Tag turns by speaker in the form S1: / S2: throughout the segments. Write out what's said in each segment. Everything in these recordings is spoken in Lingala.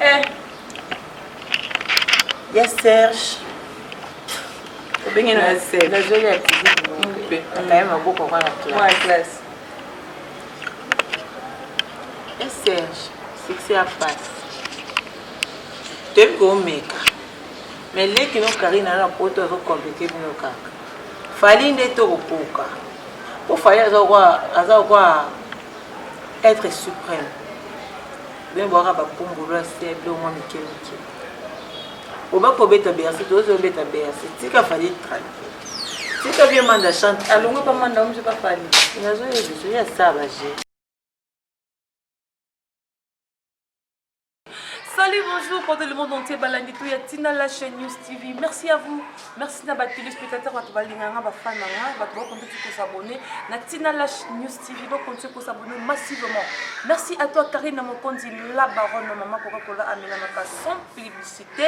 S1: Eh. Ya Serge.
S2: Obenge na ya Serge. Na zoli ya tizi.
S1: Mpe. Akaye maboko kwa na classe. Mwa
S2: classe.
S1: Ya Serge. Succès ya passe. Toyebi komeka. Mais leki no Karine ana poto azo compliquer bino kaka. Fali nde tokokoka. Mpo Fali aza kwa aza kwa être suprême. Bien boaka ba pumbulu ya se bilo mwa mike mike. Oba ko beta Bercy to zo beta Bercy. Tika fali tranquille. Tika bien manda chante. Alongo pa manda omje pa fali. Inazo yezo so ya saba je.
S2: Salut, bonjour, pendant le monde entier, Balangitou, Yatina, la chaîne News TV. Merci à vous. merci na batelespectateur bato balinga nga bafan na nga bato bakontinue kosabone na ntina lash news tv bakontinue kosabone massivement merci à toi karine mokonzi la baronne mama coca cola amelamaka sans publicité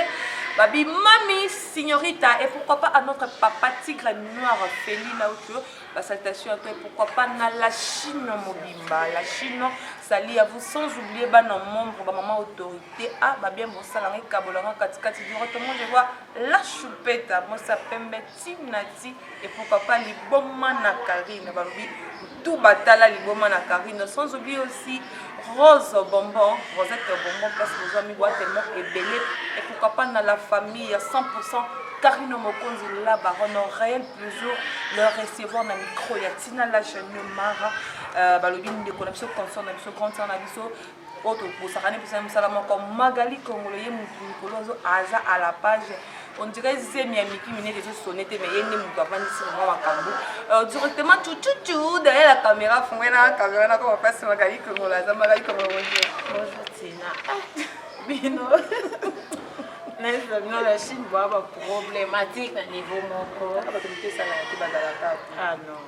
S2: babi mami signorita et pourquoi pas à notre papa tigre noir feli lauto basaltation ya toi pourquoi pas na la chine mobimba la chine sali ya vous sans oublier bana membre bamama autorité a babien bosala ngai kabolanga katikati dura tomonde vois la choupeta mosa pembe ti na ti epo papa liboma na carine balobi tout batala liboma na carine sans oublie aussi rose bonbon rosette bonbon place bozwa mibwa tellement ebele et pourquoi pas na la famille ya 100 carino mokonzi la baronne réel plusieurs le recevoir na micro ya tina la jeune mara euh, balobi ndeko na biso consort na biso grande sœur na biso oyo tobosakani mposa ya mosala moko magali kongolo ye motu mikolo ozo aza à la page ondire zemi ya miki minene ezosone te mais ye nde moto avandisi mama makambo euh, directement tututu derrière la caméra fongoye na caméra nako bapasi magali kongolo aza magali kongolo bonjour bonjour tina
S1: bino bino na chine boa baproblématique na niveau moko ah,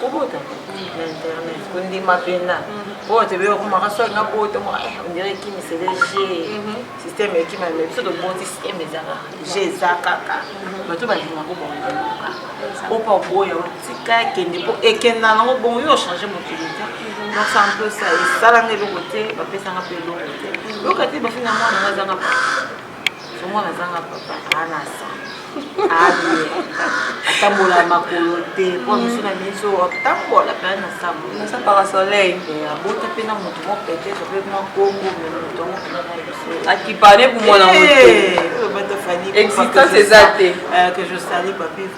S1: kobota na internet kondima mpena oyo te bee okomaka soki nga bota mwa ondire ekimisele je systeme ekima me biso toboti systeme ezaka je eza kaka bato balinga kobonga opa oboya otika ekende mpo ekenda nango bongo yo ochange mokili te donc ça un peu ça esalanga eloko te bapesanga mpe eloko te yoka te bafinga mwana nga azanga mwana azanga papa anasa aye atambola makolo te mpo miso na miso atambola mpe anasambosa parasoleil
S2: eh, abota mpe na
S1: moto moko peut-être mpe mwa kongo
S2: me
S1: moto yango mpenza na biso
S2: akipane
S1: komona motoexistence eh, eza
S2: te eh, que je sali
S1: papive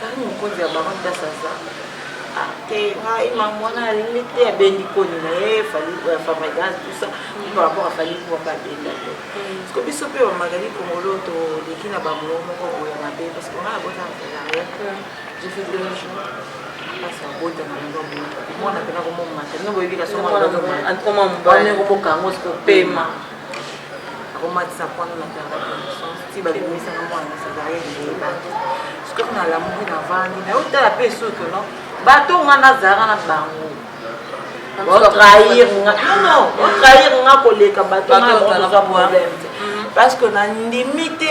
S1: Tali mokonzi ya bango place aza atera ye mamu wana alingi te abendi koni na ye fabrigase tusa par rapport afali kuwaka abenda te parceke biso mpe bamagali kongolo toleki na bango moko boya mabe parceke ngai abota na salaria je fais deux jours place abota na yango boye mwana mpe nakomomata nino boyebi
S2: kasongokomokanga siko
S1: pema komatisa mpono na tanga connaissance ti babimisa na mwana cesarienne eyebaki sikoyo nalamuki navandi naye otala mpe esoto no bato nga nazalaka na bango otrahir nga nono otrahir nga koleka bato nga baoza problème te parce que nandimi te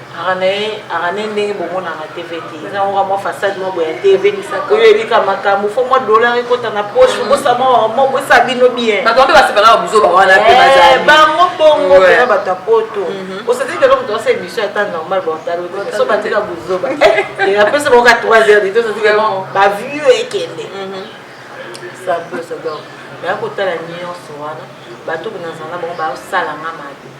S1: Aranae, Aranae ndenge bomonaka TV te. Eza yango kaka mwa façade mwa boye ya TV. Oyo oyebi kaka makambo, faut mwa dollar ekota na poche, mm. bosa mwa mwa bosa bino bien. Bato mpe basepelaka buzoba
S2: wana mpe eh, bazali. Bango bongo
S1: mpenza bato ya poto. Mhm. Osati lelo moto asa émission ata normal baotalo te, so batika buzoba. Eh, apesa bango ka 3 heures de temps, osati vraiment ba vieux ekende. Mhm. Ça peut se donc. Nayakotala nyonso wana, bato mpe nazala bango baosala nga mabe.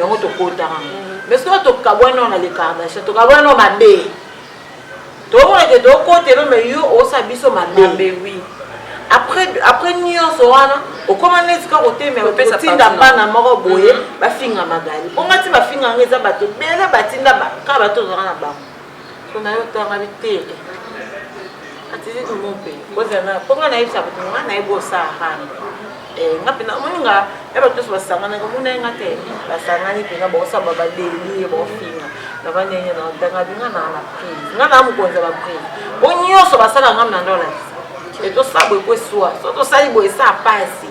S1: yango tokotaka mais soki tokabwani nao na le kardashian tokabwani nao mabe tokomona ke tokotelo mais yo osa biso mabe oui après après nyonso wana okoma neti kaka otemeotinda bana moko boye mm-hmm. bafinga magali mpo ngati bafinga yango eza bato ebele batinda kaka bato ozalaka na bango pona yo tanga bitele atili dumo mpe kozala na mpo ngai nayebisa bato ngai nayebi osahana eh, nga mpe namoni nga ya bato nyonso basanganaki omona ye nga te basangani mpenza bakosamba badelie bakofinga naba ndenge na tanga binga na na prise nga na mokonzi ya baprise bo nyonso basala nga mna nde olakisa etosala boye po eswa so tosali boye esa pasi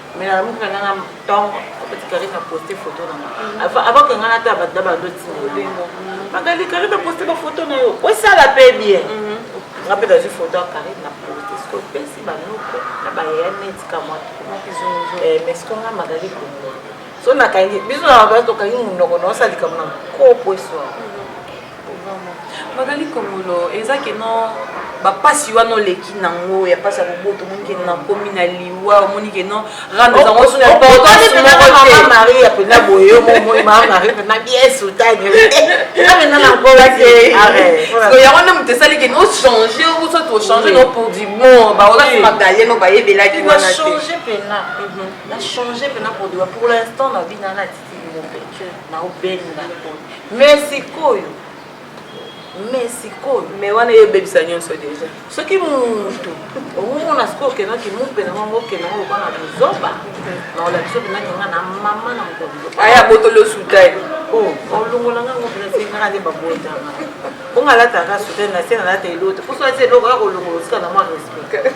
S1: mais nalamuki na nga na ntongo apeti karine aposte foto na nga avant ke nga nata bato na bando timelingo magali karine aposte bafoto na yo osala mpe bien mhm. nga mpe nazwi foto ya karine na poste soki opesi banoko na bayaya neti kamwa eh, mais soki nga magali kongo so nakangi biso na bato tokangi monoko naosala likambo na kopo eswaa magali
S2: kongolo eza ke no bapasi wana oleki nango ya pasi ya koboto omoni ke nakomi na liwa omoni ke no rando ezango suna mama maria mpena boye omoi mama maria
S1: mpena bien soutane amena na nkola te yango nde moto
S2: esali ke ochange oso tochange no pour du bon baolaki magalie no bayebelaki wana te na change mpena
S1: pour du pour l'instant na bina nati Mopeche na obenga mais sikoyo mais sikoyo
S2: mais wana ye ebebisa nyonso deja soki mutu
S1: omomona sikoyo okendaki mupe na mwango okenda ngo lokola na buzoba na olakisa okendaki nga na mama na mokolo aya botoli osuta
S2: ye olongola
S1: nga ngo mpena sengaka nde babotanga bonga alataka sutani na se nalata eloko te mposo alati eloko ya kolongola osika na mwa respect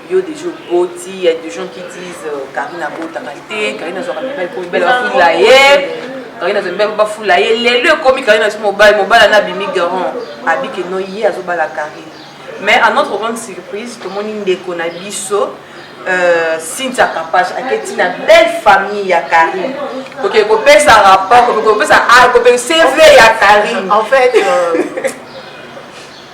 S2: yo deja oboti ya des gens qui disent karine abotaka te karine azwaka mibali po mibali bafula ye karine azwa mibali po bafula ye lelo ekomi karine aso mobali mobali ana abimi garant abike no ye azobala karine mais à notre grande surprise tomoni ndeko na biso Euh, cynthia kapash aketi na belle famille ya karine oke kopesa rapport kopesa ah, cv ya karine en fait euh,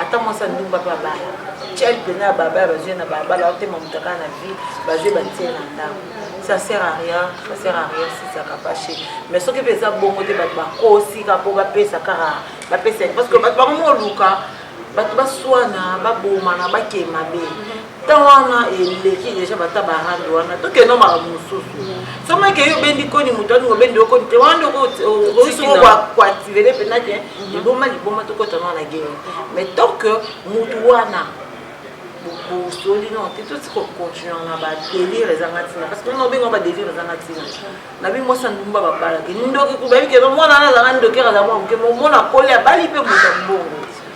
S1: ata mwasi ya ndumba mpe abala cel mpena ya baba ya bazwi na balabala otema moto kaka na vie bazwi batie na ndako ça sert à rien ça sert à rien si ça kapache mais soki mpe eza bongo te bato bakosika mpo bapesa kaka bapesa parce que bato bango moluka bato baswana babomana bakei mabe temps wana eleki deja bata barande wana tokenda makambo mosusu somo eke yo obendi koni moto alingo obendi yo koni te wana nde okoactivele mpena ke liboma liboma tokotana wana gere mais tant que motu wana bokosoli no te tosi kocontinue na badelire ezanga ntina parce que meme obenga badelire ezanga ntina na bi mwasi andumba babalaki ndoki kubayebi keba mwana wana azanga ndokere aza mwa moke momona akoli abali mpe moto ya mbongo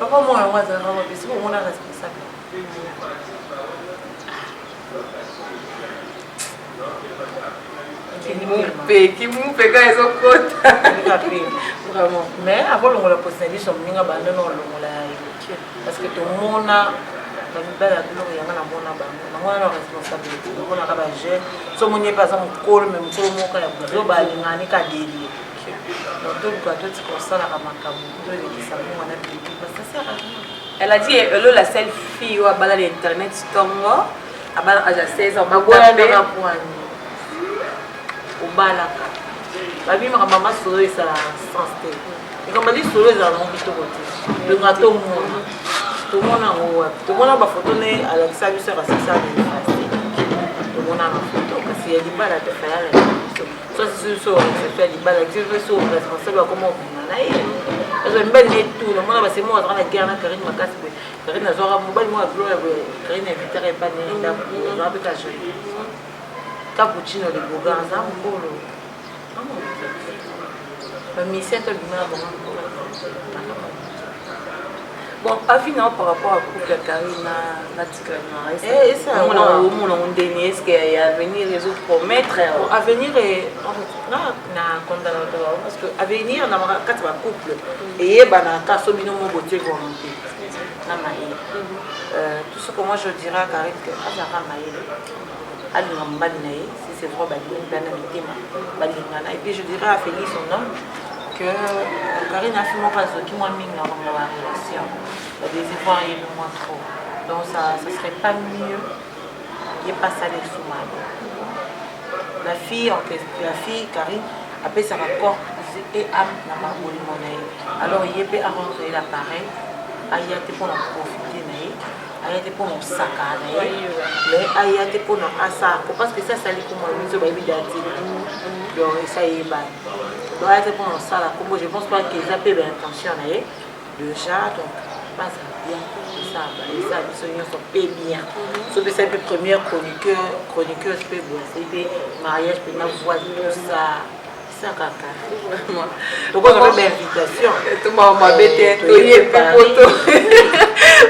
S2: papa
S1: moko yango azalaka mabe soki omona responsable
S2: kimupe kimupe ka ezokota vraiment
S1: mais akolongola posa biso moninga bando na olongola ya yoke parce que tomona bamibali ya biloko yanga namona bango bango wana responsabilité namonaka bajeune so moni ye mpe aza mokolo me mokolo moko ya buzo balingani kadelie Elle a dit Elo la
S2: seule fille oyo abala na internet tongo abala aja 16 ans baboyanaka
S1: kwani obalaka babimaka mama solo esalaka sens te likambo lisolo ezala nango kitoko te longa tomona tomona yango wapi tomona bafoto nde alakisa biso akasisa tomona na foto kasi ya libala te fayala biso mibali na etu namona basemo azalaka na guerre na karine makasi boye karine azwaka mobali moko ya bilo ya boye karine invitaka epa na ye ndako azwaka mpe kaje cappuccino liboga aza mokolo bamisien tobima bango
S2: Bon, avis na par rapport à couple ya Carine na na Tika na est-ce Eh, esa que mona
S1: yango. mona ondeni
S2: est-ce que ya avenir ezo promettre Bon, euh, avenir est-
S1: en fait, na na condamna bato bango parce que avenir na ba- kati ya bacouple eyebanaka so bino mo botie volonté na mayele Euh, tout ce que moi je dirais à Karine que azalaka mayele alinga mobali na ye si c'est vrai balingi bana mitema balingana et puis je dirais à Félix son homme que euh, Karine afi moko azoki mwa mingi na bango ba relation ba désespoir ye le moins trop donc ça ça serait pas mieux ye pas ça les sous mal la fille en question la fille Karine apesaka corps et âme na mabolingo na ye alors ye mpe arendre ye l'appareil aya te mpo na profite na ye aya te mpo na osaka na ye mais aya te mpo na asa po parce que esi asali kombo na biso bayebi dati donc esi ayebani donc aya te mpo na osala kombo je pense pas que eza mpe baintention na ye déjà donc base bien eza biso nyonso mpe bien sopesa mpe première chroniqueuse mpe boye asali mpe mariage mpe na voix tout ça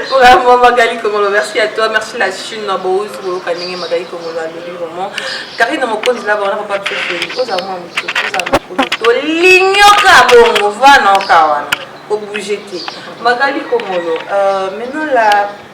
S2: vraiment magali kongolo merci à toi merci la chine na bouzi koyoka ndenge magali kongolo alobi vraiment karine mokonzi na bawana papa biso oza mwa motu oza mokolo tolinyoka bongo vanoka wana obouge te magali kongolo euh, maintenant la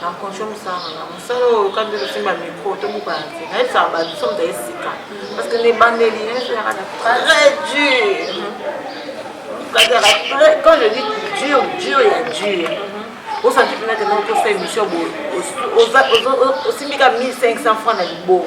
S1: na conjo mosala na ngai mosala oyo oyoka nde kosimba micro to mokana te nayebisaka bato so moto esika parce que na ebandeli nayesolaka na très dur kazaka très quand je dis dur dur ya dur osanti mpena te nao kosa émission boye osimbika 1500 francs na liboko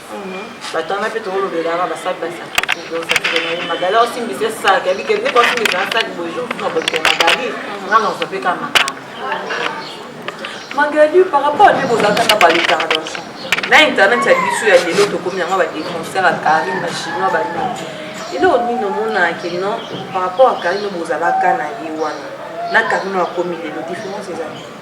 S1: batanga mpe tokolobelaka basali basakisaki magali osimbisa esaki abike nde kosimbisa asaki bojour na boto magali nga naosa mpe ka makambo
S2: magali par rapport nde bozalaka na baletardation na internet ya biso ya lelo tokomi yango badefenseur ya carine bachinois banini eloko nini omonaki non par rapport ya carine bozalaka na ye wana na carine akomi lelo différence ezali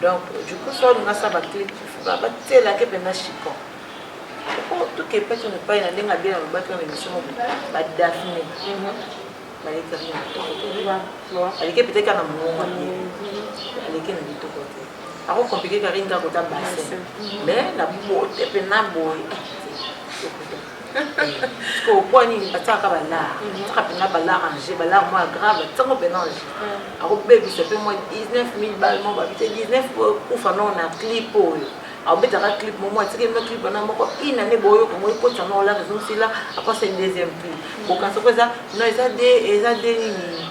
S1: donc du coup soki olinga sa baclip batielaki mpenza chicon tokepaki na epai na ndenge abie na lobaki na emission moko badafne balekaki na kitoko te aleki epetaki na mongongo aleki na kitoko te ako komplike kari ndako ta basin mais na bote mpe na boye sikoyo mpo nini batiaka balare tiaka mpenza balare ange balare mwa grave ntango mpenza ange akobebisa mpe mwa 19 000 bal mo babi te 19 kufa nao na clip oyo abetaka clip momo atiki bino clip wana moko une année boyo kongo ekotisa na olaka ezongisila apasa deuxième prix bokanisa ko eza no eza de eza de nini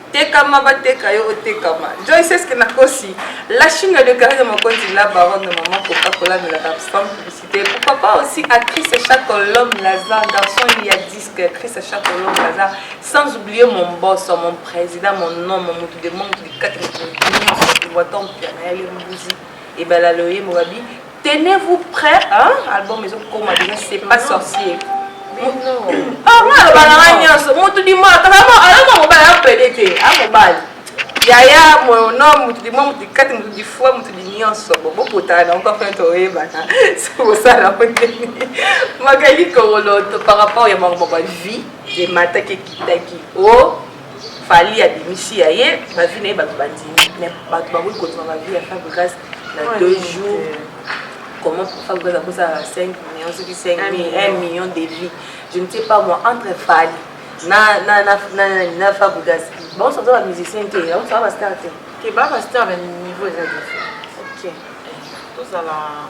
S2: tekama bateka yo otekama joyce eske nakosi la chine ya dekare de mokonzi la baronne de maman coca cola de la babsam publicité pourquoi pas aussi actrice chacolom lazar garçon il y a disque actrice chacolom lazar sans oublier mon boss mon président mon nom mon motu de monde likati motu nyonso kivoiton mpiana ya lembuzi ebala loye mobabi Tenez vous prêt hein album ezo koma déjà c'est pas sorcier. Ah moi le balanga nionso mutu di moi kaka mo ala mo mobali apede te a mobali. Yaya mon nom mutu di moi mutu kati mutu di foi mutu di nionso bo bokota na encore fin to yeba na c'est pour ça la poteni. Magali Koroloto par rapport ya bango ba vie de mataki kitaki. Oh Fally abimisi ya ye ba vie na ye bato bandimi mais bato bakoki kondima ba vie ya Fabregas na deux jours comment Fabregas akozala 5 millions soki 5 1 million de vie je ne sais pas moi entre Fally na na na na na Fabregas bango soza ba musicien te bango soza ba star te te ba ba star mais
S1: niveau eza différent ok tozala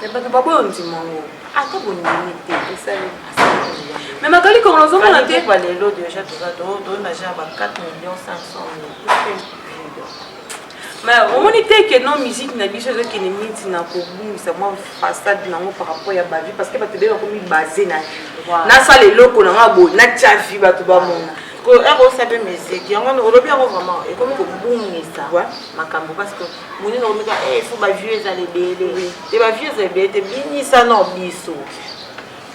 S1: Mais bato baboya ondima yango ata bondimi te esali mais
S2: magali kongo nazomona te ba lelo deja toza
S1: tonaja ba 4 million
S2: 500 mais omoni te ke no musique na biso ezokende minti na kobungisa mwa façade nango par rapport ya bavie parce que bato ebele bakomi base na nasala eloko na nga boye natya vie bato bamona ekosa mpe
S1: musique yango olobi yango vraiment ekomi kobungisa makambo parce que monene omeka e eh, fo bavieux ezala ebele te bavieux ezala ebele te binisana biso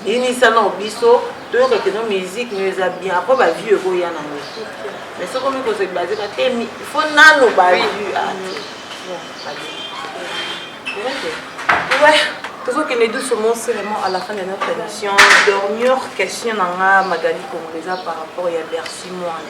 S1: binisana biso toyoka keno musique no eza bien apres bavieux ekoya nango mais soki omi kozali bazeka te fo nano bavieux
S2: ah, tozokende doucement c'est vraiment à la fin de notre émission dernière question na nga magali congolesa par rapport ya bercy moine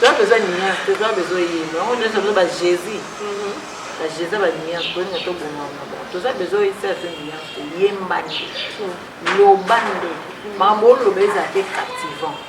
S1: toza besoin nuance te toza besoin yembo yango nyonso biso bajésus bajésus ya banuance tolinga tobongana bon toza besoin oyisa te nuance te yemba nde loba nde makambo oloba ezala te captivant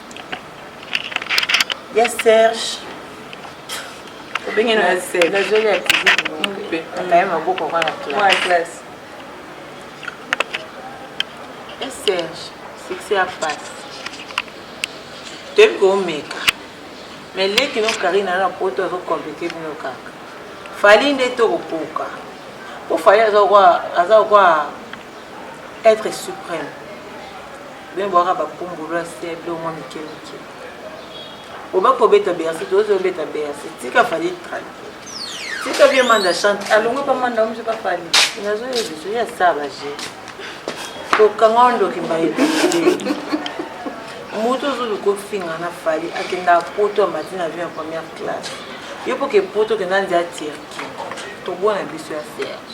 S1: ya serge
S2: obengena ya serge nazoli ya tizipe
S1: akaye maboko kwa na classe ya serge succès ya pasi toyebi koomeka me leki no karina na poto azokomplike bino kaka fali nde tokokoka mpo fali aza kokwa être suprême Bien boaka ba pumbulu ya se bilo mwa mike mike. Oba ko beta Bercy to zo beta Bercy. Tika fali tranquille. Tika bien manda chante. Alongo pa manda omje pa fali. Inazo yo biso ya saba je. To kanga ndo kimbaye. Moto zo luko finga na fali akenda poto amati na avion première classe. Yo poke poto kenda ndia Turquie. To bona biso ya Serge.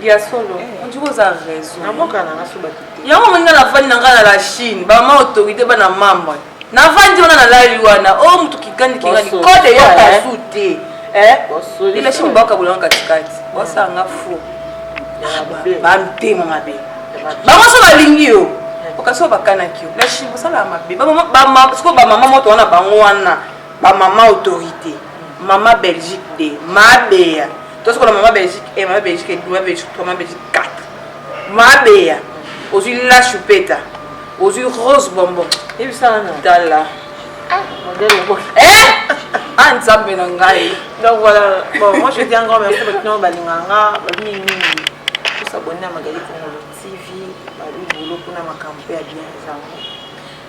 S2: ya solo ondiki oza raison naboka na naso bato te yango omoni nga navandi na ngai na la chine bamama autorité bana mambre navandi wana nalali wana o oh, moto kikandi kingani kode yoka eh? su te eh? la chine baokabolanga katikati bosanga fo bamtema mabe bango so balingi yo eh. okasi oyo bakanaki yo la chine bosalaka mabe sikoyo bamama moto wana bango wana bamama autorité mama belgique de mabeya tosi kona mama belgique e eh, mama belgique mama belgique 3 mama belgique 4 mabeya ozwi la chupeta ozwi rose bonbon yebisa wana tala ah nzambe na ngai donc voilà
S1: bon moi je dis encore merci bato nao balingaka nga bamingi mingi tosabonne na magali kongolo tv babi bolo mpona makambo mpe ya bien ezango